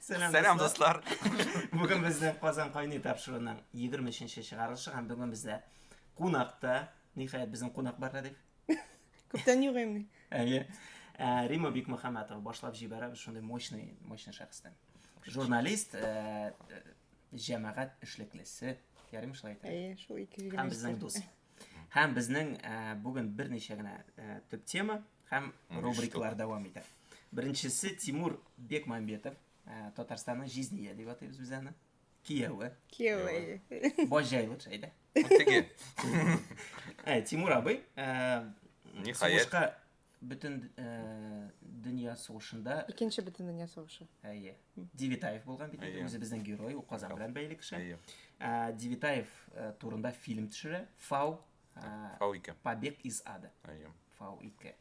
Сәлам, Сәлам дуслар. Бүген безнең Казан кайный тапшыруының 23-нче чыгарылышы һәм бүген бездә кунакта, ниһаять безнең кунак бар Радик. Күптән юк инде. Әйе. Ә, Рима Бикмөхәммәтова башлап җибәрә шундый мощный, мощный шәхестән. Журналист, ә, э, җәмәгать эшлеклесе, ярыйм шулай әйтә. Әйе, шул ике җигә. Һәм безнең дус. Һәм безнең ә, э, бүген берничә генә ә, э, төп тема, Һәм рубрикалар дәвам итә. Беренчесе Тимур Бекмамбетов, ә, Татарстанның җизния дип атыйбыз без аны. Кияүе. Киевый. Баҗайлык шәйдә. Теге. Ә, Тимур абый, ә, Ниһаять. сугышка бөтен ә, дөнья сугышында Икенче бөтен дөнья сугышы. әйе, Девитаев булган бит инде, Әйе. үзе безнең герой, ул Казан белән бәйле кеше. Әйе. Ә, Девитаев ә, турында фильм төшерә. Фау Ә, Фау-ике. Побег из ада. Әйе. Фау-ике.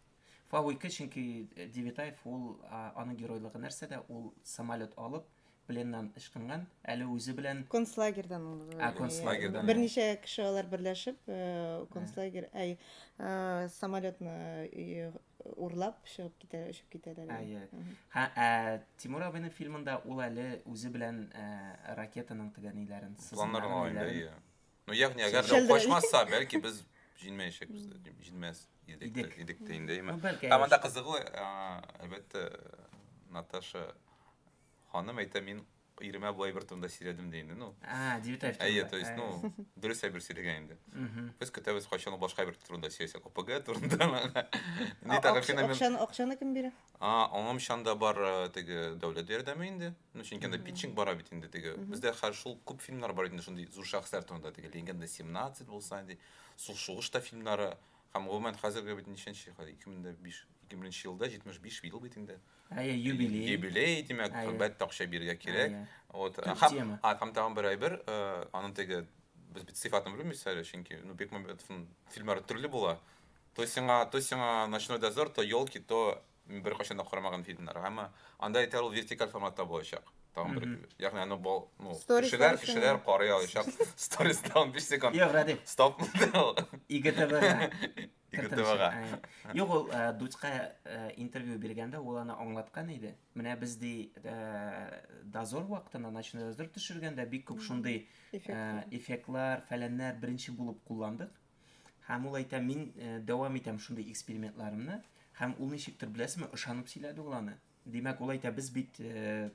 Фау-ике, чөнки э, Девитаев ул а, аның геройлыгы нәрсәдә? Ул самолет алып пленнан ычкынган, әле үзе белән концлагерьдан ул Ә, концлагерьдан, иә. берничә кеше алар берләшеп э, концлагерь әй э, самолетны э, урлап чыгып китә очып китәләр Әйе. Мгм. Һә, ә, Тимур абыйның фильмында ул әле үзе белән ә, ракетаның тегәниләрен, Планнар сызымнарның алайында, ниләрен- әйе. Ну, ягъни, әгәр дә Шәлдерәй. качмаса, бәлки без җинмәячәкбез дә, дим, җинмәс идек тә- Идек. идек тә инде, әйме. Ну, бәлки, Ә монда әйе. кызыгы, а, әлбәттә, Наташа ханым әйтә, мин иремә бу әйбер турында сөйләдем ди инде, ну. А, Девятаев. Әйе, турында. то есть, Әйе. ну, дөрес әйбер сөйләгән инде. Мгм. Без көтәбез, кайчан ул башка әйбер турында сөйләсәк, ОПГ турында. Ни А, тагы акча- феномен? Акчаны, акчаны кем бирә? А, аңым чанда бар э, теге дәүләт ярдәме инде. Ну, чөнки анда питчинг бара бит инде теге. Бездә хәзер шул күп фильмнар бар инде шундый зур шәхесләр турында теге Легенда 17 булса инде, Сул шугыш та фильмнары. Һәм гомумән хәзерге бит ничәнче хәзер 2005 2000 елда 75 ел бит инде. Әйе, юбилей. Юбилей, димәк, Әйе. әлбәттә акча бирергә кирәк. Әйе. Вот. Төп Һәм, тема. а, һәм тагын бер әйбер, э, аның теге без бит сыйфатын белмибез әле, чөнки ну Бекмамбетовның фильмнары төрле була. То сиңа, то сиңа Ночной дозор, то Елки, то Мин беркайчан да карамаган фильмнар, әмма анда әйтәр ул вертикаль форматта булачак. Тагын бер, ягъни аны бал, ну, Stories кешеләр, дәресен. кешеләр карый алачак. Сторис тагын 5 секунд. Юк, Радик, Стоп. ИГТВ-га. ИГТВ-га. Ә, Юк, ул ә, Дудька ә, интервью биргәндә ул аны аңлаткан иде. Менә без ди ә, дозор вакытында, ночной дозор төшергәндә бик күп шундый Эффект. ә, эффектлар, фәләннәр беренче булып кулландык. Һәм ул әйтә, мин э, дәвам итәм шундый экспериментларымны, һәм ул ничектер беләсезме, ышанып сөйләде ул аны. Димәк, ул әйтә, без бит э,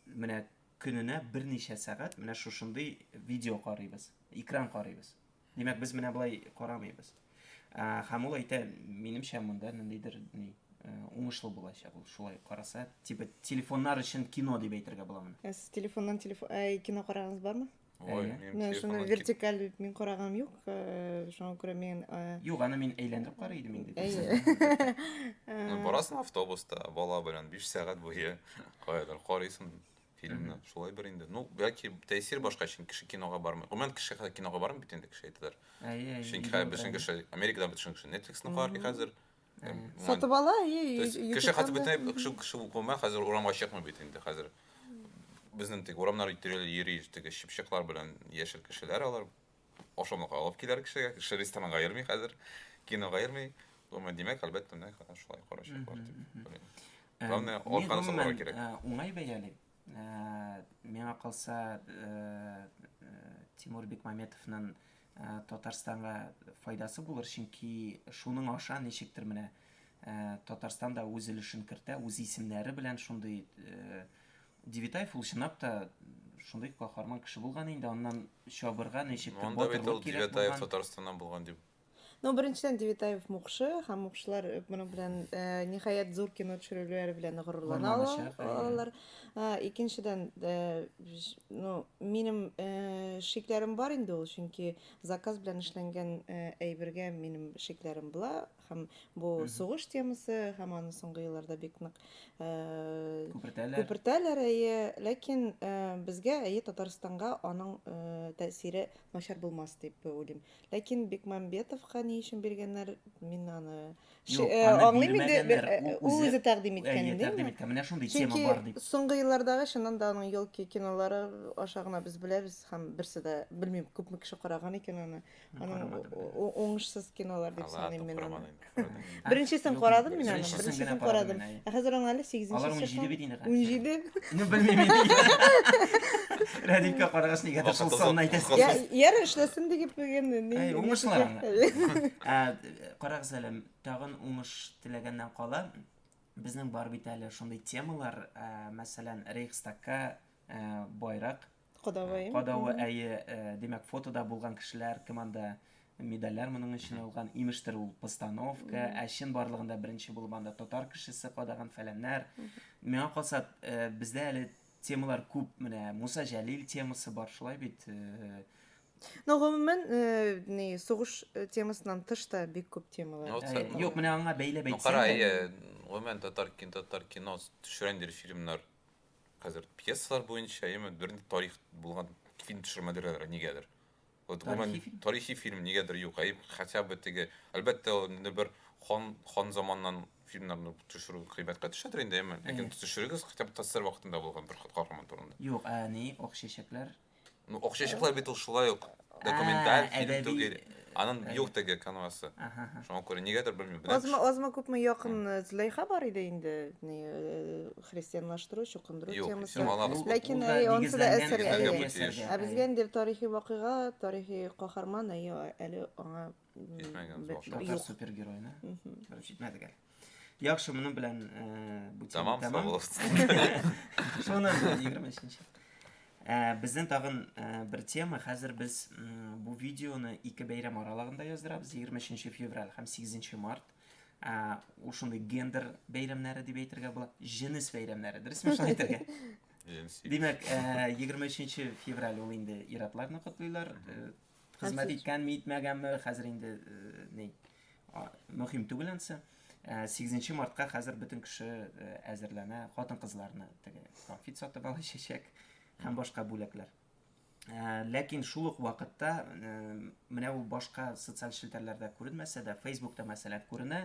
менә көненә берничә сәгать менә шушындый видео карыйбыз, экран карыйбыз. Димәк, без менә болай карамыйбыз. Ә, һәм ул әйтә, минемчә монда ниндидер ни э, уңышлы булачак ул шулай караса, типа телефоннар өчен кино дип әйтергә була моны. Ә сез телефоннан телефон, ә, кино карагыңыз бармы? Ой, Әйе. минем Менә шуны телефоннан кит- вертикаль дип мин карагам юк, э, шуңа күрә мин э, Юк, аны мин әйләндереп карый идем инде. әйе. Ну, Э, барасың автобуста, бала белән 5 сәгать буе каядыр карыйсың фильмны. Шулай бер инде. Ну, яки тәэсир башка чын кеше кинога бармый. Гомумән кеше хәзер кинога бармый бит инде кеше әйтәләр. Әйе, әйе. Чөнки хәзер бөтен кеше Америкада бөтен кеше Netflix-ны карый Мгм. хәзер. Сатып ала, и Кеше хәтер бөтенләй кеше кеше укымый, хәзер урамга чыкмый бит инде хәзер. Безнең тик урамнар тирәли йөри, теге чыпчыклар белән яшел кешеләр алар ашамлык алып киләр кешегә, кеше ресторанга йөрми хәзер, кинога йөрми. Думаю, димәк, әлбәттә, менә шулай карачаклар дип. Главное, арканы сакларга кирәк. Уңай бәялим. Миңа калса, Тимур Бекмаметовның Татарстанга файдасы булыр, чөнки шуның аша ничектер менә Татарстан да үз өлешен кертә, үз исемнәре белән шундый Девитаев ул чынлап та шундый каһарман кеше булган инде, аннан чабырга ничектер батырлык кирәк булган. Девитаев Татарстаннан булган дип Ну, беренчедән Девитаев мукшы һәм мукшылар э, моның белән э, ниһаять зур кино төшерүләре белән горурлана алалар. Э, икенчедән, ну, минем шикләрем бар инде ул, чөнки заказ белән эшләнгән әйбергә минем шикләрем була һәм бу сугыш темасы һәм аны соңгы елларда бик нык күпертәләр. Күпертәләр, әйе, ләкин безгә әйе Татарстанга аның тәэсире начар булмас дип уйлыйм. Ләкин Бекмамбетовка ни өчен биргәннәр, мин аны Юк, э, аны аңлыйм инде. бирмәгәннәр. Э, э, Ул үзе тәкъдим иткән, Әйе, димме? тәкъдим иткән. Менә шундый тема Чөнки бар дип. соңгы еллардагы чыннан да аның елки кинолары аша гына без беләбез һәм берсе дә белмим күпме кеше караган икән аны. Аның карамадым. уңышсыз кинолар дип Аллаһ саныйм мин аны. Беренчесен карадым мин аны. Беренчесен карадым. Ә хәзер аңа әле 8 нче. Алар 17 бит инде. 17. Ну белмим инде. Радикка карагач нигә дә шул санны әйтәсез. Я, яр эшләсен дип дигән ни. Әй, уңышлар аңа. Ә карагыз әле, тагын уңыш теләгәннән кала, безнең бар бит әле шундый темалар, мәсәлән, Рейхстагка байрак Кадавы, әйе. Кадавы, әйе. Димәк, фотода булган кешеләр кем анда? Медальләр моның өчен алган, имештер ул постановка, ә чын барлыгында беренче булып анда татар кешесе кадаган фәләннәр. Миңа калса, бездә әле темалар күп, менә Муса Җәлил темасы бар, шулай бит. Но гомумән, ни, сугыш темасыннан тыш та бик күп темалар. Юк, менә аңа бәйләп әйтсәң. Кара, әйе, гомумән татар кино, татар кино төшерәндер фильмнар. хәзер пьесалар буенча яме бернинди тарих булган фильм төшермәделәр нигәдер. Вот гомумән тарихи фильм нигәдер юк. Әй хотя бы теге, әлбәттә, инде бер хан хан заманнан фильмнарны төшерү кыйбаткә төшәдер инде, әмма ләкин төшерегез хотя бы ТССР вакытында булган бер каһарман турында. Юк, ә ни, ак чәчәкләр? Ну, Акчачыклар бит ул шулай ук документаль Ә, фильм әдәби- түгел. Анын әдәби. юк теге канвасы. Аха, аха. Шуңа күрә нигәдер белмим. Беләм, Азмы, азмы күпме якын э, Зөләйха бар иде инде ни, э, христианлаштыру, чукындыру Юк, темасы. исем алабыз. Ул- Ләкин, ул да әй, онсы да нигезләнгән әсәр, әсәргә әйе. бу тиеш. Ә безгә инде тарихи вакыйга, тарихи каһарман, әйе, әле аңа Исмәгән башка. Татар супергеройны. Короче, итмәде гәр. Яхшы, моның белән э, бу тема тәмам. Шуны 23-нче. Э, Бездән тагын э, бер тема. Хәзер без бу видеоны ике бәйрәм аралыгында яздырабыз. 23 февраль һәм 8 март. Ә ушундый гендер бәйрәмнәре дип әйтергә була. Җенес бәйрәмнәре, дөресме шулай әйтергә? Димәк, 23 февраль ул инде иратларны котлыйлар, Хезмәт иткәнме, итмәгәнме, хәзер инде э, ни мөһим түгел ансы. 8 мартка хәзер бөтен кеше э, әзерләнә, хатын-кызларны теге конфет сатып ала чәчәк һәм башка бүләкләр. Э, ләкин шул ук вакытта менә ул башка социаль челтәрләрдә күренмәсә дә, Facebookта мәсәлән күренә,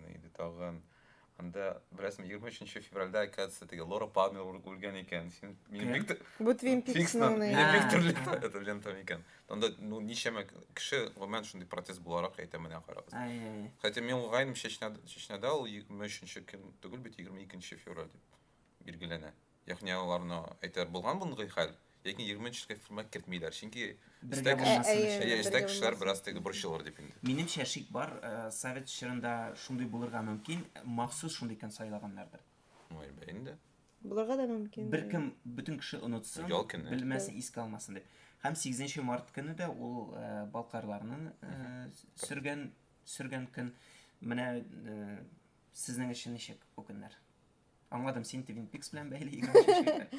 Җитәкчесенә иде тагын. Анда, беләсең, 23 февральдә, оказывается, теге Лора Палмер үлгән икән. Син, минем бик... Бу Твин Пикснан. Минем бик төрле это лентам икән. Анда, ну, ничәмә кеше, гомумән, шундый протест буларак әйтә менә карагыз. Хотя мин уйлыйм, Чечняда ул 23 көн түгел бит, 22 февраль дип билгеләнә. Ягъни аларны әйтәр булган мондый хәл, ләкин егерме өченче формат кертмиләр, чөнки Бергә эстәге булмасын кеше- өчен. әйе, эстәге кешеләр бераз теге борчылыр дип инде. Минемчә шик бар, совет чорында шундый булырга мөмкин, махсус шундый көн сайлаганнардыр. Ну, әлбә инде. Булырга да мөмкин. Беркем, бөтен кеше онытсын, Ял көне. белмәсен, искә алмасын дип. Һәм сигезенче март көне дә ул э, балкарларның э, сөргән, сөргән көн. Менә э, сезнең өчен ничек бу көннәр? Аңладым, син Twin Peaks белән бәйле 23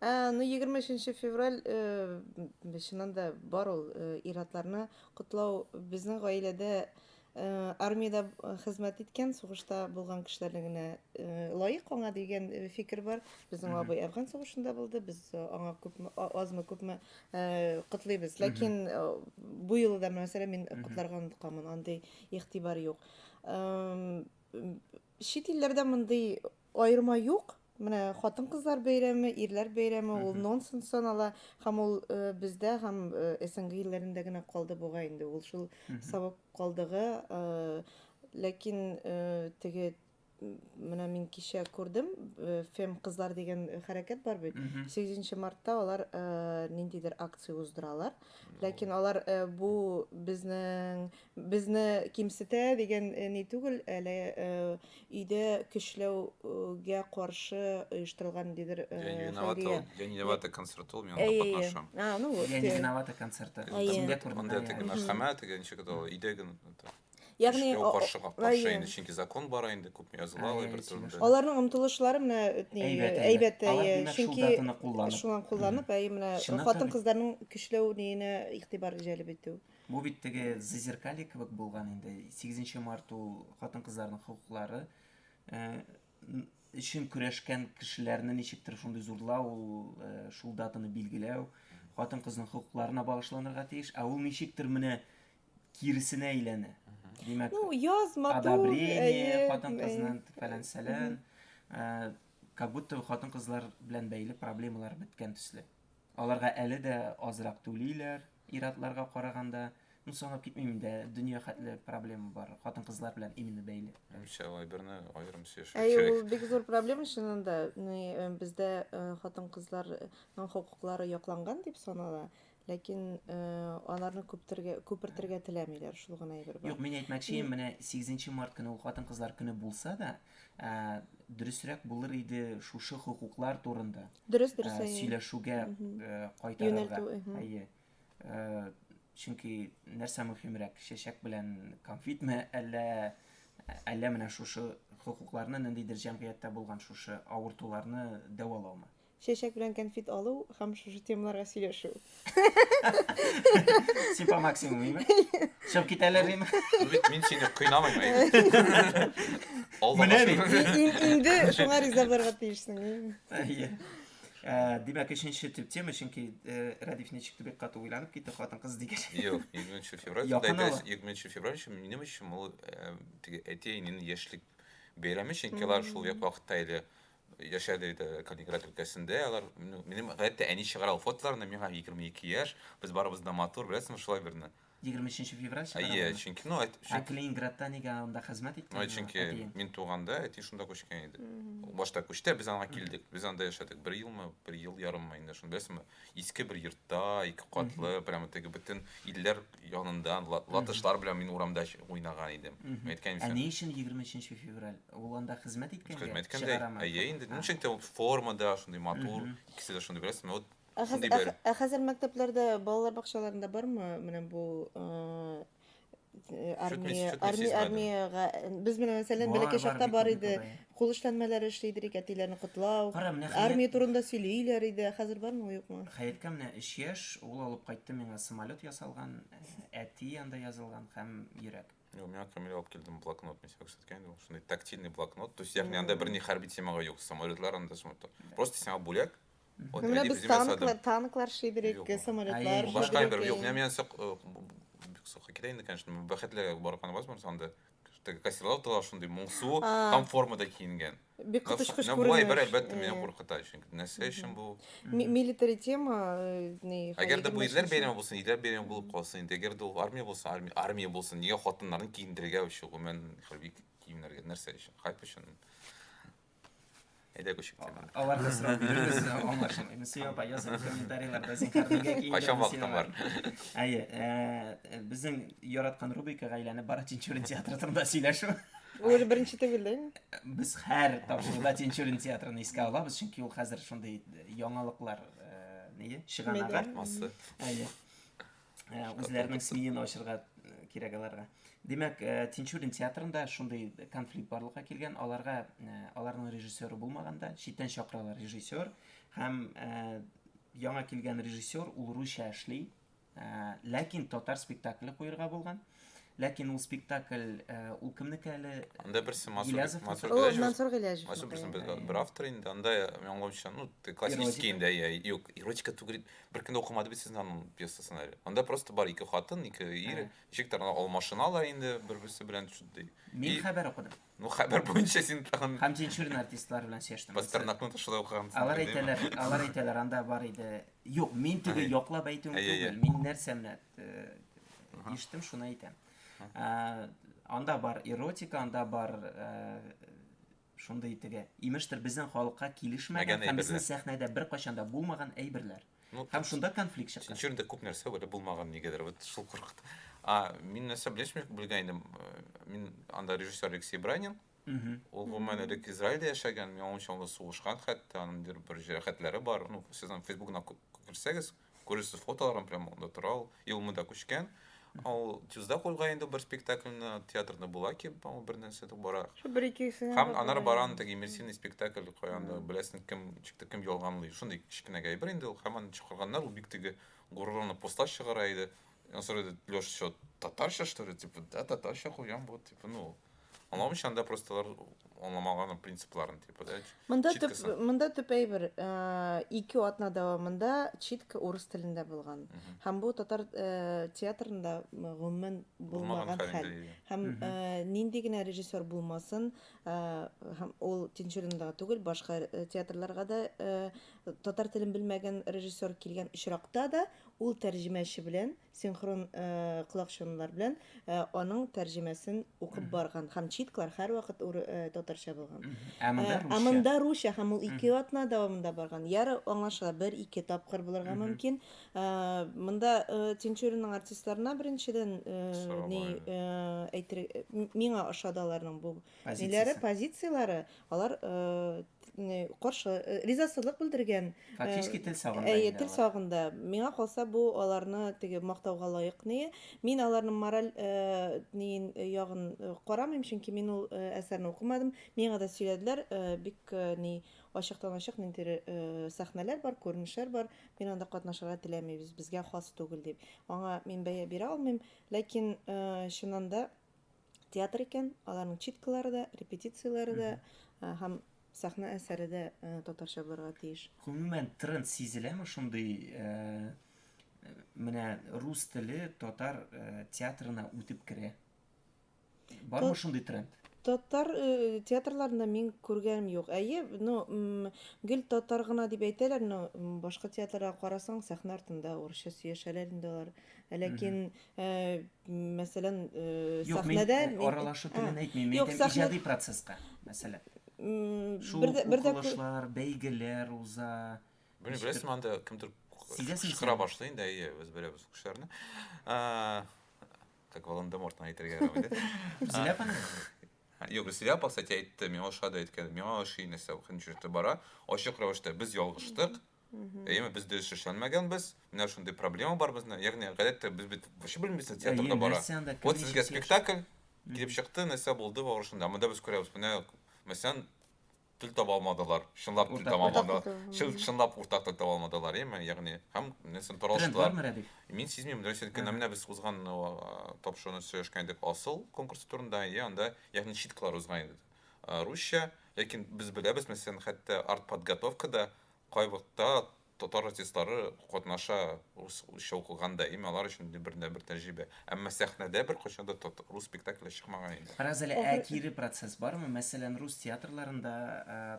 Ә, ну 23 февраль э, чыннан да бар ул э, иратларны котлау безнең гаиләдә э, армиядә э, хезмәт иткән сугышта булган кешеләрне генә э, лаек аңа дигән э, фикер бар безнең Мгм. абый әфган сугышында булды без э, аңа күпме а- азмы күпме э, котлыйбыз ләкин э, бу юлы да мәсәлән мин Мгм. котларга онытканмын андый игътибар юк Эм, Чит илләрдә мондый аерма юк. Менә хатын-кызлар бәйрәме, ирләр бәйрәме ул нонсенс санала һәм ул э, бездә һәм э, СНГ илләрендә генә калды бугай инде. Ул шул сабып калдыгы. э, Ләкин э, теге м, менә мин кичә күрдем, э, фем кызлар дигән хәрәкәт бар бит. 8 мартта алар э, ниндидер акция уздыралар. Ләкин алар э, бу безнең Безне кимсетә дигән ни түгел, әле өйдә көчләүгә каршы оештырылган ниндидер хәйрия. День виновата концерты ул, мин анда катнашам. День виновата концерты. Монда теге мәхкәмә, теге ничек итә ул, өйдә генә. Ягъни ул каршы каршы инде, чөнки закон бар инде, күп языла ул бер төрле. Аларның омтылышлары менә әйбәт, чөнки шулай кулланып, әй менә хатын-кызларның көчләү ниенә игътибар җәлеп итү. Бу бит теге зазеркалье кебек булган инде. 8 март ул хатын-кызларның хокуклары өчен көрәшкән кешеләрне ничектер шундый зурлау, ул шул датаны билгеләү, хатын-кызның хокукларына багышланырга тиеш. Ә ул ничектер менә киресенә әйләнә. Димәк, ну, яз, матур, одобрение, хатын-кызның фәлән-сәлән, как будто хатын-кызлар белән бәйле проблемалар беткән төсле. Аларга әле дә азрак түлиләр, ир-атларга караганда. Ну, санап китмим инде, дөнья хәтле проблема бар, хатын-кызлар белән именно бәйле. Үчә алай берне аерым сөйләшү Әй, кирәк. ул бик зур проблема чыннан да. Ну, э, бездә э, хатын-кызларның хокуклары якланган дип санала, ләкин э, аларны күптергә, күпертергә теләмиләр, шул гына әйбер бар. Юк, мин әйтмәкче, менә 8 март көне ул хатын-кызлар көне булса да, Ә дөресрәк булыр иде шушы хокуклар турында дөрес, дөрес, ә, сөйләшүгә кайтарырга. Әйе. Чөнки нәрсә мөһимрәк, чәчәк белән конфетме, әллә әллә менә шушы хокукларны ниндидер җәмгыятьтә булган шушы авыртуларны дәвалаумы? Чәчәк белән кәнфит алу һәм шушы темаларга сөйләшү. Сипа максимум име? Чыгып китәләр име? Бит мин сине кыйнамыйм әйе. Менә бит. Инде шуңа риза булырга тиешсең. Әйе. Димәк, өченче төп тема, чөнки Радиф ничек тә бик каты уйланып китте, хатын-кыз дигәч. Юк, 20 февраль. Якын ала. 20 февраль өчен минем өчен ул теге әти-әнинең яшьлек бәйрәме, чөнки алар шул вакытта әле яшәде иде Калининград өлкәсендә. Алар минем гадәттә әни чыгара ул фотоларны, миңа 22 яшь, без барыбыз да матур, беләсеңме, шулай берне. 23 февраль чыгара. Әйе, чөнки ну әт. Ә Калининградта нигә анда хезмәт иткән? Ну, чөнки мин туганда әти шунда күчкән иде. Башта күчте, без аңа килдек. Без анда яшәдек бер елмы, бер ел ярыммы инде шунда, беләсеңме? Иске бер йортта, ике катлы, прямо теге бөтен илләр янында латышлар белән мин урамда уйнаган идем. Әйткән Ә ни өчен 23 февраль? Ул анда хезмәт иткәнгә? Хезмәт иткәндә. Әйе, инде. Ни өчен ул формада шундый матур, икесе дә шундый, беләсезме? Вот Ә хәзер мәктәпләрдә, балалар бакчаларында бармы менә бу армия армия армиягә без менә мәсәлән бәләкәй чакта бар иде кул эшләнмәләре эшли идек әтиләрне котлау армия турында сөйлиләр иде хәзер бармы юкмы хәяткә менә өч яшь ул алып кайтты миңа самолет ясалган әти анда язылган һәм йөрәк Юк, миңа Камил алып килде блокнот, мин сиңа күрсәткән идем. Шундый тактильный блокнот. То есть, ягъни анда берни хәрби темага юк. Самолетлар анда самолетлар. Просто сиңа бүләк, Вот Менә әдип без үземә танклар, ясадым. танклар шидер Юк, идек, юк. самолетлар Әйе. Башка шидер бер юк. Менә идек. миңа сак, э, бик сакка китә инде, конечно. Мин Бәхетле барган возможность анда. Теге костюмлар тагы шундый моңсу А. һәм формада киенгән. Бик Менә коточкыч менә бу әйбер күренеш. әлбәттә мине Э, куркыта, чөнки нәрсә өчен бу? ми- Милитари тема, э, ни, хәл Әгәр дә бу егерме ирләр өченче. бәйрәме булсын, ирләр бәйрәме булып калсын инде. Әгәр дә ул армия булса, армия, армия булсын. Нигә хатыннарны киендерергә өчен гомумән хәрби киемнәргә нәрсә өчен? Хайп өчен. Әйдә күчик теманы. Алар да сорау бирегез, аңлашым. Инде Сия апа язып комментарийларда зин кәрнегә киң. Кайчан вакытың бар? Әйе, безнең яраткан рубрика гаиләне бары Тинчурин театры турында сөйләшү. Бу уже беренче түгел дә инде. Без һәр тапшыруда Тинчурин театрын искә алабыз, чөнки ул хәзер шундый яңалыклар, ние, чыганагы. Әйе. Ә, үзләренең смиен ачырга э, кирәк аларга. Димәк, э, Тинчурин театрында шундый конфликт барлыкка килгән, аларга э, аларның режиссеры булмаганда читтән чакыралар режиссер һәм яңа килгән режиссер ул русча эшли, ләкин татар спектакле куерга булган. Ләкин ул спектакль, э, ул кемнеке әле? Анда берсе Мансур Гилязов. Мансур О, Мансур Гилязов. Мансур берсе бер, бер автор инде. Анда яңгымча, ну, классический инде, я, юк, эротика түгел. Бер кем дә укымады бит сезнең аның пьесасын әле. Анда просто бар ике хатын, ике ир, ничек тә алмашыналар инде бер-берсе белән шундый. Мин хәбәр укыдым. Ну, хәбәр буенча син тагын... Һәм динчурин артистлар белән сөйләштем. Пастернакны тышыда укыган. Алар әйтәләр, алар әйтәләр, анда бар иде. Юк, мин теге яклап әйтүем түгел. Мин нәрсә менә иштем, шуны әйтәм. Анда бар эротика, анда бар шундый теге. Имештер безнең халыкка килешмәгән һәм безнең сәхнәдә бер кайчанда булмаган әйберләр. Ну, Һәм шунда конфликт чыккан. Син чүрдә күп нәрсә белеп булмаган нигәдер, вот шул куркыт. А, мин нәрсә белешмә белгән идем. Э, мин анда режиссер Алексей Бранин. Ул гомумән элек Израильдә яшәгән, миңа онча ул сугышкан хәтта, аның бер бер җәрәхәтләре бар. Ну, сез аның Фейсбугына күрсәгез, күрерсез фотоларын прямо анда тора ул. Юлымы да күчкән. Ул тюзда куйга инде бер спектакльне театрда була ки, ул бер нәрсә дә бара. Шул бер икесенә. Һәм анар баран теге иммерсивный спектакль куянда беләсен кем чыкты, кем ялганлый. Шундый кечкенә гәйбер инде ул һәм аны чыгарганнар, ул бик теге горурлана поста чыгара иде. Ансыр иде Лёш, что, татарча, что ли? Типа, да, татарча куям, вот, типа, ну, Аңламыйча анда просто алар аңламаган принципларын типа да. Монда төп монда төп әйбер э, ике атна дәвамында читка урыс телендә булган. Һәм бу татар э, театрында гомумән булмаган хәл. Һәм э, нинди генә режиссер булмасын, һәм ул Тинчуринда түгел, башка театрларга да татар телен белмәгән режиссер килгән очракта да ул тәрҗемәче белән Синхрон колакчынлар белән аның тәрҗемәсен укып барган һәм читклар һәрвакыт татарча булган. Ә монда русча. Ә монда русча һәм ул ике атна дәвамында барган. Яры аңлашыла, бер ике тапкыр булырга мөмкин. Монда Тинчуринның артистларына беренчедән ни әйтер, миңа ошады аларның бу ниләре, позицияләре, Алар каршы ризасызлык белдергән. Фактически тел сагында. Әйе, тел сагында. Миңа калса бу аларны теге мактауга лаек ни. Мин аларның мораль нин ягын карамыйм, чөнки мин ул әсәрне укымадым. Миңа да сөйләделәр, бик ни ачыктан ачык ниндидер сәхнәләр бар, күренешләр бар. Мин анда катнашырга теләмибез, безгә хас түгел дип. Аңа мин бәя бирә алмыйм, ләкин чыннан да театр икән, аларның читкалары да, репетицияләре дә һәм сәхнә әсәре дә татарча булырга тиеш. Гомумән тренд сизеләме шундый менә рус теле татар театрына үтеп керә? Бармы шундый тренд? Татар театрларында мин күргәнем юк. Әйе, ну, гел татар гына дип әйтәләр, но башка театрларга карасаң, сәхнә артында урысча сөйләшәләр инде алар. Ләкин Э, мәсәлән э, юк мин э, аралашу телен әйтмим мин әйтәм иҗади процесска мәсәлән шул укылышлар бәйгеләр уза белмим беләсеңме анда кемдер кычкыра башлый инде әйе без беләбез кешеләрне как волан де мортны әйтергә ярамый да зиләпаны Юк, Зиләпа, кстати, әйтте, миңа ошады әйткән, миңа ошый нәрсә, хәнҗирте бара, ачык рәвештә без ялгыштык, Әйеме, без дөрес эшләнмәгәнбез. Менә шундый проблема бар безне. Ягъни, гадәттә без бит вообще белмибез театрда бара. Вот сезгә спектакль килеп чыкты, нәрсә булды барышында. Монда без күрәбез. Менә мәсәлән, тел таба алмадылар. Чынлап тел таба алмадылар. Чынлап уртак тел таба алмадылар, әйеме? Ягъни, һәм нәрсән таралыштылар. Мин сизмим, нәрсә икән. Менә без узган тапшыруны сөйләшкән идек асыл конкурс турында, я анда ягъни читкалар узган иде. русча, ләкин без беләбез, мәсәлән, хәтта артподготовкада кайвакытта татар артистлары катнаша, русча укылган да, әйме, алар өчен бердәнбер тәҗрибә. Әмма сәхнәдә беркайчан да рус спектакле чыкмаган инде. Бераз әле ә кире процесс бармы? Мәсәлән, рус театрларында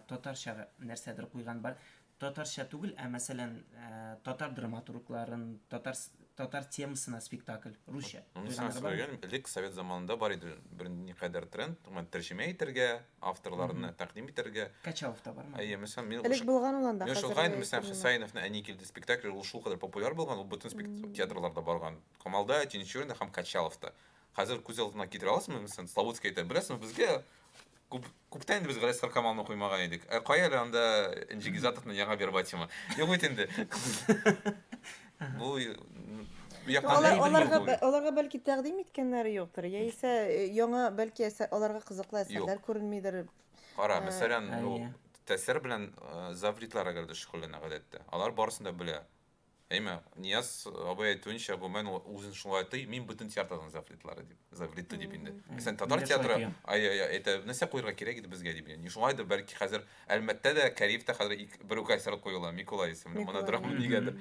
татарча нәрсәдер куйган бар, Татарча түгел, ә мәсәлән, татар драматургларын, татар татар темасына спектакль, русча. Моны сиңа сөйләгән, элек совет заманында бар иде бер никадәр тренд, гомумән тәрҗемә итәргә, авторларны тәкъдим итәргә. Качалов та бармы? Әйе, мәсәлән, мин Элек булган ул анда, хәзер юк. Мәсәлән, Хөсәеновның Әни килде спектакле, ул шулкадәр популяр булган, ул бөтен театрларда барган. Камалда, Тинчуринда һәм Качаловта. Хәзер күз алдына китерә аласызмы, мәсәлән, Славутский әйтә, беләсезме, безгә күп Күптән инде без Гәрәс Каркамалны куймаган идек. Ә кая әле анда Энҗе Гизатовның яңа вербатимы? Юк бит инде. Бу аларга аларга бәлки тәкъдим иткәннәре юктыр, яисә э, яңа бәлки аларга кызыклы әсәрләр күренмидер. Кара, э, мәсәлән, тәсер белән э, завритлар әгәр дә шөгыльләнә гадәттә. Алар барысын да белә. Әйме, Нияз абый әйтүенчә, гомумән ул үзен шулай тый, мин бөтен театрның завлитлары дип, завлиты дип инде. Мәсәлән, татар театры әйтә, нәрсә куярга кирәк иде безгә дип. Ни шулай да бәлки хәзер Әлмәттә дә, Кариевтә хәзер бер үк әсәр куела, Микулай исемле монодрама дигәндер.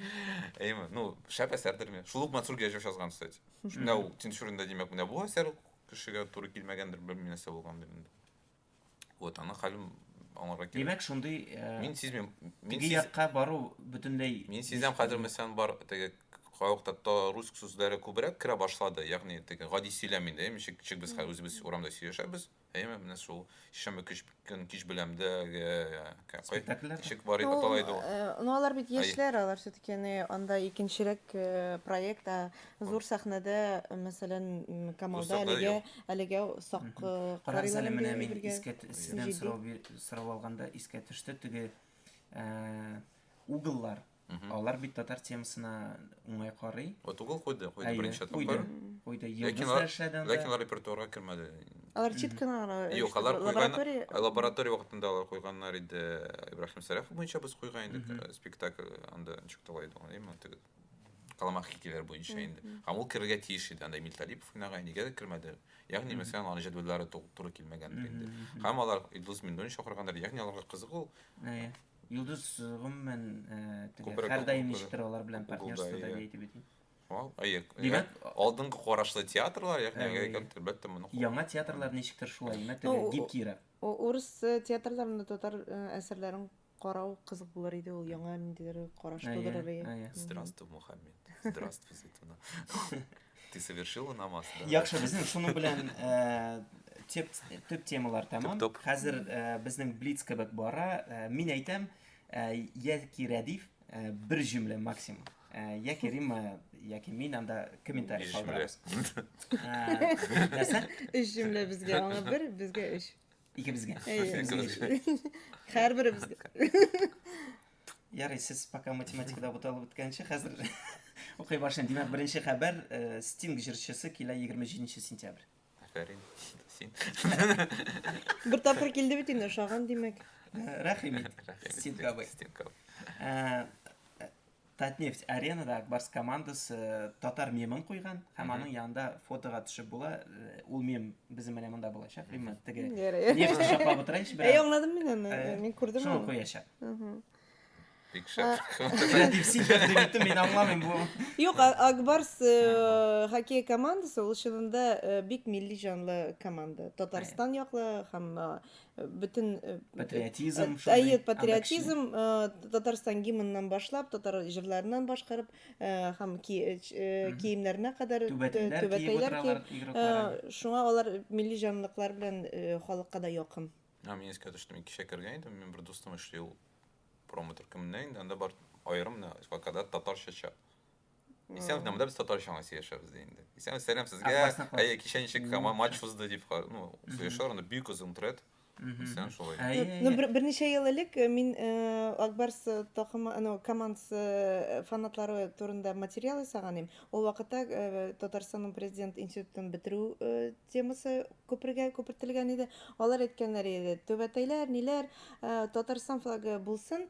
Әйме, ну, шәп әсәрдер мен. Шул ук Мансур Гәҗев язган, кстати. Менә ул Тинчуринда димәк, менә бу әсәр кешегә туры килмәгәндер, белмим нәрсә булган инде. Вот, аны хәлем аңларга кирәк. Димәк, шундый э, Мин сизмим. Мин теге сиз... якка бару бөтенләй Мин сизәм хәзер мәсәлән бар теге кайвакытта та руск сүзләре күбрәк керә башлады. Ягъни теге гади сөйләм инде. Ничек ничек без хәзер үзебез урамда сөйләшәбез. Әйме, менә шул шәмбе кич көн кич беләмдә спектакльләр ничек бар иде атала иде ул. Ну, алар бит яшьләр, алар все-таки анда икенчерәк э, проект, ә Зур сәхнәдә, мәсәлән, Камалда әлегә әлегә сак карыйлар инде. Менә мин искә сездән сорау сорау алганда искә төште теге угллар. Алар бит татар темасына уңай карый. Вот угол куйды, куйды беренче тапкыр. Куйды. Йолдызлар эшләде. Ләкин алар репертуарга кермәде. Алар чит кына гына. Юк, алар лаборатория. Лаборатория вакытында алар куйганнар иде. Ибраһим Сәрәф буенча без куйган идек спектакль анда ничек тулайды, әйме, теге. Каламах хикәяләр буенча инде. Һәм ул керергә тиеш иде, анда Эмиль Талипов уйнаган, нигә дә кермәде. Ягъни, мәсәлән, аның җәдвәлләре туры килмәгәндер инде. Һәм алар Илдус Миндуллин чакыргандыр, ягъни аларга кызык ул. Әйе. Илдус гомумән һәрдаим ничектер алар белән партнерство да әйтеп бит. Әйе. Димәк, алдынгы карашлы театрлар, ягъни әгәр кемдер бәлки моны. Яңа театрлар ничектер шулай, мәтәлә гибкирәк. Урыс театрларында татар әсәрләрен Карау кызык булыр иде ул яңа ниндидер караш Әйе, тудырыр иде. әйе. Мгм. Здравствуй, Мухаммед. Здравствуй, Зайтуна. Ты совершила намаз, да? Яхшы, безнең шуның белән э, теп, төп темалар тәмам. Төп-топ. Хәзер э, безнең блиц кебек бара. Э, мин әйтәм, э, яки Рәдиф э, бер җөмлә максимум. Э, яки Рима, яки мин анда комментарий Биш калдырабыз. Э, нәрсә? Өч җөмлә безгә, аңа бер, безгә өч. Икебезгә. Һәрберебезгә. Ярый, сез пока математикада буталып беткәнче, хәзер укый башлыйм. Димәк, беренче хәбәр э, Стинг җырчысы килә 27 сентябрь. Афәрин. Син. Бер тапкыр килде бит инде, ошаган димәк. Э, Рәхим ит. Стинг абый. Стинг абый. Э, Татнефть аренада Акбарс командасы татар мемын куйган һәм аның янында фотога төшеп була. Э, ул мем безнең менә монда булачак. Именно теге нефть шаклап утырайчы бераз. Әй, аңладым мин аны. Э, мин күрдем. Шуны куячак. Бик шәп. Креатив сидер дип әйтте, мин аңламыйм бу. Юк, Акбарс э, хоккей командасы ул чынында бик милли җанлы команда. Татарстан яклы һәм бөтен патриотизм әйе патриотизм татарстан гимнынан башлап татар җырларыннан башкарып һәм киемнәренә кадәр түбәтәйләр киеп шуңа алар милли җанлыклар белән халыкка да якын а мин искә төште мин кичә кергән идем мин бер дустым эшли ул промоутер кемнән инде анда бар аерым вакада татарча чат Исән генә монда без татарча гына сөйләшәбез ди инде. Исән сәлам сезгә. Әйе, кичә ничек кама матч узды дип, ну, сөйләшәләр, анда бик озын тред. Исән шулай. Ну, берничә ел элек э, мин э, Акбарс э, токымы, ну, командасы фанатлары турында материал ясаган идем. Ул вакытта Татарстанның президент институтын бетерү темасы күпергә күпертелгән иде. Алар әйткәннәр иде, төбәтәйләр, ниләр, Татарстан флагы булсын,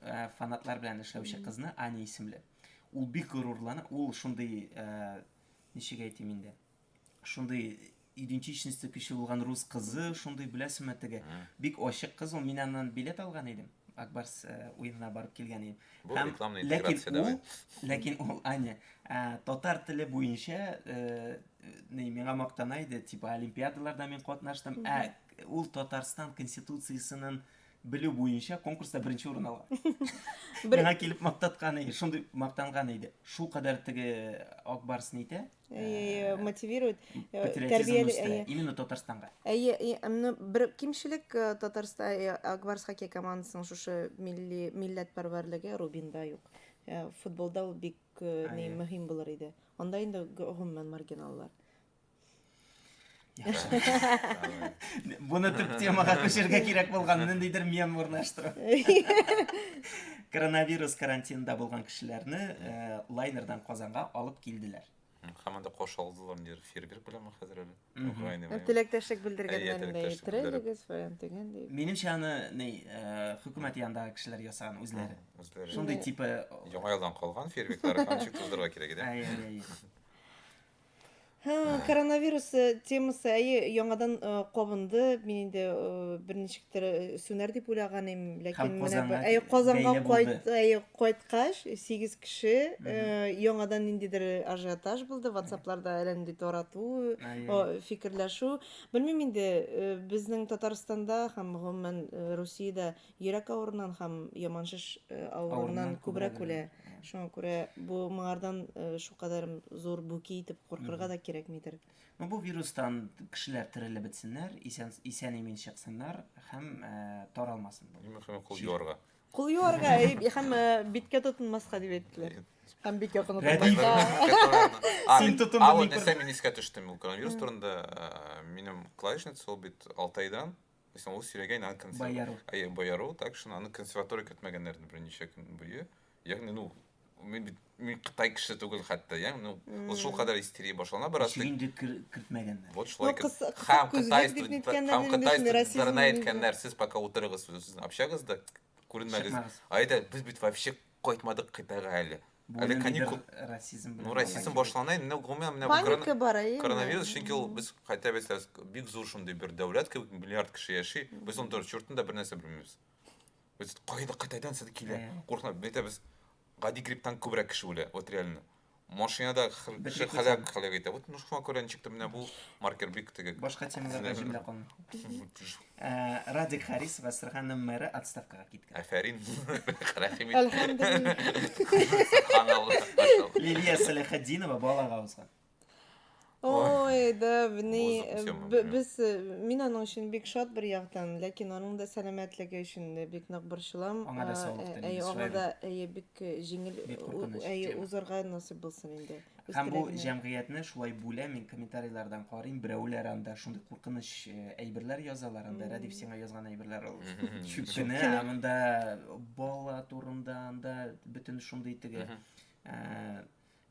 Э, фанатлар белән эшләүче кызны аня исемле ул бик горурлана ул шундый э, ничек әйтим инде шундый идентичности көчле булган рус кызы шундый беләсеңме теге бик ачык кыз ул мин аннан билет алган идем акбарс э, уенына барып килгән идем һәм ләкин ул ләкин ул аня татар теле буенча миңа мактана иде типа олимпиадаларда мин катнаштым ә ул татарстан конституциясенең Белү буенча конкурста беренче урын алган. Бер... Миңа килеп мактаткан иде, шундый мактанган иде. Шул кадәр теге Ак Барс нитә? Э, мотивирует. Э, Тәрбияли именно Татарстанга. Әйе, әмне бер кимчелек э, Татарстан Ак Барс хоккей командасының шушы милли милләт парварлыгы Рубинда юк. Футболда ул бик ни мөһим булыр иде. Анда инде гомумән маргиналлар. Буны төп темага күчергә кирәк булган ниндидер мем урнаштыру. Коронавирус карантинында булган кешеләрне э, лайнердан Казанга алып килделәр. Һәм анда каршы алдылар нидер фейерверк белән хәзер әле. Украина белән. Теләктәшлек белдергәннәрендә иттерелегез фәлән дигән дип. Минемчә аны ни э, хөкүмәт янындагы кешеләр ясаган үзләре. Үзләре. Шундый типа Яңа елдан калган фейерверклар һәм чик туздырырга кирәк иде. Әй, әй, әй. Һы, Ә. коронавирус, э, темасы, әйе, яңадан, э, кабынды. Мин инде, э, берничектер, э, сүнәр дип уйлаган идем, Һәм ләкин менә Казанга б әйе, Казанга бәйле кайт булды. әйе, кайткач, 8 кеше, Мгм. э, яңадан ниндидер ажиотаж булды, ватсапларда әллә нинди тарату, Әйе. о, фикерләшү. Белмим инде, э, безнең Татарстанда һәм гомумән, э, Русиядә Йөрәк авырунан һәм яман шеш авырунан күбрәк үлә. Шуңа күрә бу моңардан шукадәр зур бүки итеп куркырга да кирәкмидер. Ну бу вирустан кешеләр терелеп бетсеннәр, исән исән имин чыксыннар һәм таралмасын. Шуңа кул юарга. Кул юарга һәм биткә тотынмаска дип әйттеләр. Һәм бик якын утырмаска. Син тотын бит. Аны дисәм мин искә төштем ул коронавирус турында. Минем клавишница ул бит Алтайдан. Мәсәлән, ул сөйләгән аны консерватор. Әйе, бояру, так шуны аны консерватор көтмәгәннәр инде берничә көн буе. Ягъни, ну, мин бит мин Кытай кеше түгел хәтта, я, ну, ул шул кадәр истерия башлана бераз. Ишек инде кертмәгәннәр. Вот шулай кыз. Хам Кытай студентлары, хам Кытай студентларына әйткәннәр, сез пока утырыгыз сүзсез, общагызда күренмәгез. Әйдә, без бит вообще Кайтмадык кытайга әле. Бу әле каникул... расизм белән. Ну, расизм башлана инде, гомумән менә Паника бар, әйе. Коронавирус, чөнки ул без кайта бесләс, бик зур шундый бер дәүләт кебек, миллиард кеше яши, без ун дөрес чортында бер нәрсә белмибез. Без кайда кытайдан сез килә? Куркына, бетә без гади грипптан күбрәк кеше үлә, вот реально. Машинада хр- Бер ши- халәк секунд. халәк итә. Вот ну шуңа күрә ничек тә менә бу маркер бик теге. Башка темаларга җөмлә калмый. Э, Радик Харисова Сырханым мэры отставкага киткән. Афәрин. Рәхим ит. Әлхәмдулилла. Субханалла. Лилия Сәләхетдинова балага узган. Ой, да, бни, без, мин аның өчен бик шат бер яктан, ләкин аның да сәламәтлеге өчен дә бик нык борчылам. Аңа да саулык телим. Әйе, аңа да әйе бик җиңел, әйе, узарга насыйп булсын инде. Һәм бу җәмгыятьне шулай бүлә, мин комментарийлардан карыйм, берәүләр анда шундый куркыныч әйберләр язалар, анда Рәдиф сиңа язган әйберләр ул чүпкене, анда бала турында, анда бөтен шундый теге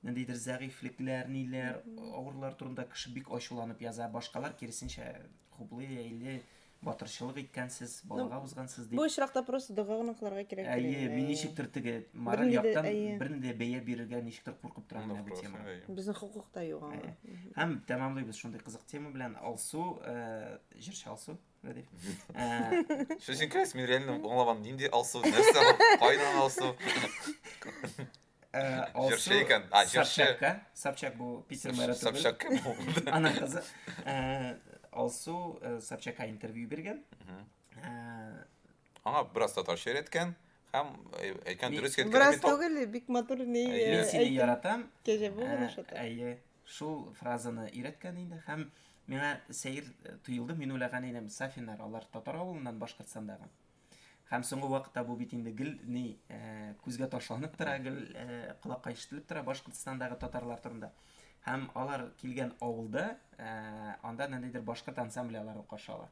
ниндидер зәгыйфьлекләр, ниләр, авырлар турында кеше бик ачуланып яза, башкалар киресенчә хуплый, әйли, батырчылык иткәнсез, балага узгансыз дип. Бу очракта просто дога гына кылырга кирәк. Әйе, мин ничектер теге мораль яктан бернинди бәя бирергә ничектер куркып торам менә бу тема. Безнең хокук та юк аңа. Һәм тәмамлыйбыз шундый кызык тема белән Алсу, җырчы Алсу. Шешенкәс, мин реально аңламадым, нинди Алсу, нәрсә, кайдан Алсу? Ә, алсу Җырчы икән. А, җырчы. Собчакка. Собчак бу Питер мэры түгел. Собчак кем ул? Ана кызы. Ә, Алсу э, Собчакка интервью биргән. Ә, Аңа бераз татарча өйрәткән һәм әй- әйткән Мин- дөрес икән Бераз километр. түгел, бик матур ни Әйе. Мин э, сине әйтем. яратам. Кәҗә бу гына Ә, шата. Әйе. Шул фразаны өйрәткән инде һәм миңа сәер э, тоелды. Мин уйлаган идем, Сафиннар, алар татар авылыннан Башкортстандагы. Һәм соңгы вакытта бу бит инде гел ни күзгә ташланып тора, гел колакка ишетелеп тора Башкортостандагы татарлар турында. Һәм алар килгән авылда анда ниндидер башкорт ансамбле аларны каршы ала.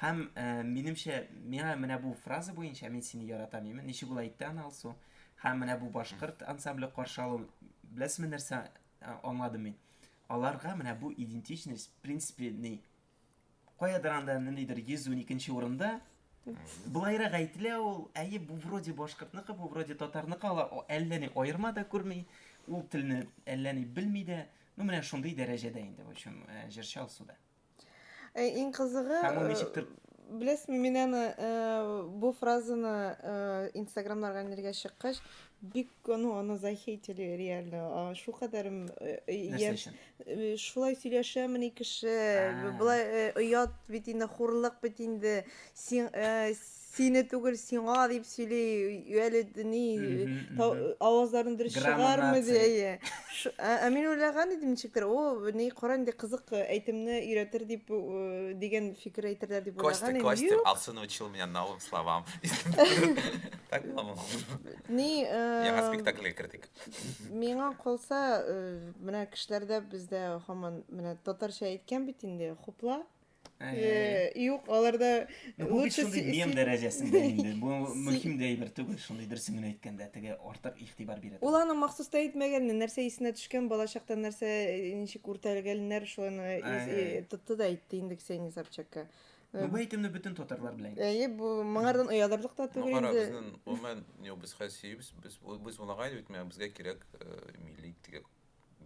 Һәм минемчә, миңа менә бу фраза буенча мин сине яратам, имин, ничек ул әйтте аны Алсу. Һәм менә бу башкорт ансамбле каршы алу, беләсезме нәрсә аңладым мин? Аларга менә бу идентичность, в принципе, ни, Каядыр анда ниндидер 112 урында Былайрак әйтелә ул, әйе, бу вроде башкортныкы, бу вроде татарныкы, ала әллә ни аерма да күрми, ул телне әллә ни белми дә. Ну, менә шундый дәрәҗәдә инде, в общем, э, җырчы Алсуда. Э, иң кызыгы, Һәм ул э, ничектер беләсезме, мин аны бу фразаны инстаграмнарга нергә чыккач, бик ну аны захейтили реально. Шул кадәрем Э, шулай сөйләшәмени кеше Ә. болай э, оят бит инде хурлык бит инде син э, сине түгел сиңа дип сөйли әле ни Мгм, тау- мгм. авазларын дөрес чыгармый ди Грамотация. әйе Ш- ә ә мин уйлаган идем ничектер о ни кара инде кызык э, әйтемне өйрәтер дип э, дигән фикер әйтерләр дип Костя, уйлаган идем Костя, юк ал сын учил меня новым словам. Так, мама. ни э, Яңа спектакльгә кердек. Миңа калса, менә кешеләрдә бездә һаман менә татарча әйткән бит инде, хупла. Юк, аларда лучше шундый мем дәрәҗәсендә инде. Бу мөһим дә әйбер түгел, шундый дөресен генә әйткәндә, теге артык игътибар бирә. Ул аны махсус та әйтмәгәнне, нәрсә исенә төшкән, балачакта нәрсә ничек үртәлгәннәр, шуны тотты да әйтте инде Ксения Собчакка. Бу бәйтемне бөтен татарлар белә. Әйе, бу моңардан оялырлык та түгел инде. Безнең гомумән юк, без хәсибез, без без улагай бит, менә безгә кирәк милли тигә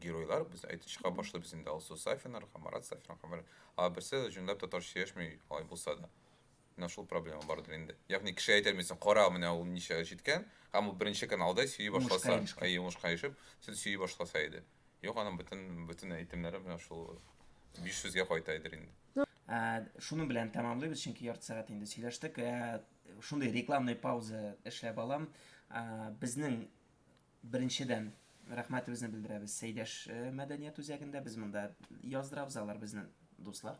геройлар, без әйтеп чыга башлый без инде Алсу Сафинар, Хамарат Сафин, Хамар. А берсе җүнләп татарча яшми, алай булса да. Менә шул проблема бардыр инде. Ягъни кеше әйтә мисың, кара, менә ул ничә җиткән, һәм ул беренче каналда сөйи башласа, әйе, уңышка ирешеп, сез сөйи башласа иде. Юк, аның бөтен бөтен әйтемнәре менә шул 500-гә кайта идер инде. Ә, шуның белән тәмамлыйбыз, чөнки ярты сәгать инде сөйләштек. Ә, шундый рекламный пауза эшләп алам. Ә, безнең беренчедән рәхмәтебезне белдерәбез Сәйдәш э, мәдәният үзәгендә. Без монда яздырабыз, алар безнең дуслар.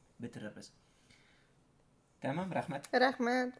бетерербез. Тәмам, рәхмәт. Рәхмәт.